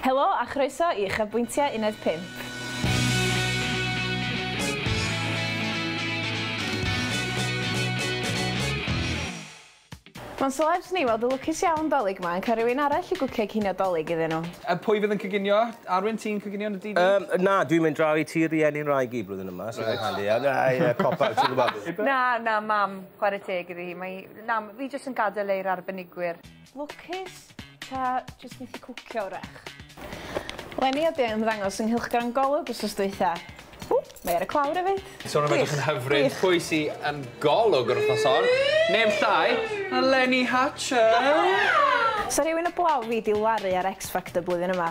Helo a chroeso i Uchafbwyntiau Uned Pump. Mae'n selebs ni weld y lwcus iawn 'Dolig 'ma yn cael rhywun arall i gwcio cinio 'Dolig iddyn nhw. A pwy fydd yn coginio? Arwyn, ti'n coginio yn y dydd? Yym, na, dwi'n mynd draw i tŷ rieni 'nraig i blwyddyn yma, so mae'n handi. Ie, ie, cop out, ti'n gwybod. Na, na, Mam, chwarae teg iddi hi. Mae hi... Na, fi jyst yn gadael e i'r arbenigwyr. Lwcus? Ta jyst methu cwcio 'w'rach? Leni ydi ymddangos yng nghylchgrawn Golwg wsos dwytha. Ww, mae ar y clawr efyd. Sôn am edrych yn hyfryd, pwy sy yn Golwg yr wythnos hon? Neb llai na Leni Hatcher! Sa rhywun 'blaw fi 'di laru ar X Factor blwyddyn yma?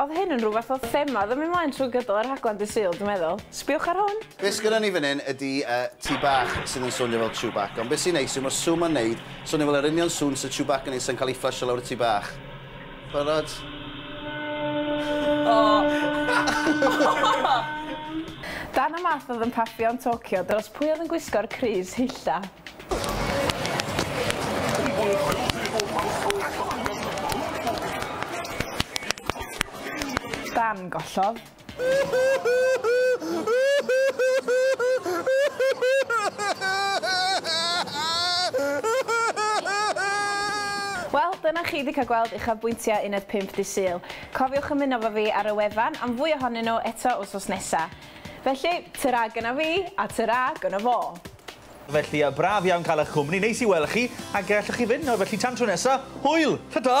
Odd hyn yn rhyw fath o thema o'dd yn myn' mlaen trwy gydol y rhaglen dydd Sul dwi'n meddwl. Sbiwch ar hwn! Be sgynnon ni fan hyn ydi yy tŷ bach sydd yn swnio fel Chewbacca ond be sy'n neis yw ma'r sŵn ma'n neud swnio fel yr union sŵn sy Chewbacca yn neud sa'n cael ei fflysio lawr y tŷ bach. Barod? Darn o math oedd yn paffio yn Tokyo dros pwy oedd yn gwisgo'r crys hylla. Dan gollodd. Wel, dyna chi wedi cael gweld uchafbwyntiau Uned 5 Dydd Sul. Cofiwch ymuno efo fi ar y wefan am fwy ohonyn nhw eto wythnos nesa. Felly, tara gynna fi, a tara gynna fo! Felly, braf iawn cael eich cwmni, neis i weld chi, a gellwch chi fynd nawr, felly tan tro nesa, hwyl! Ta-ta!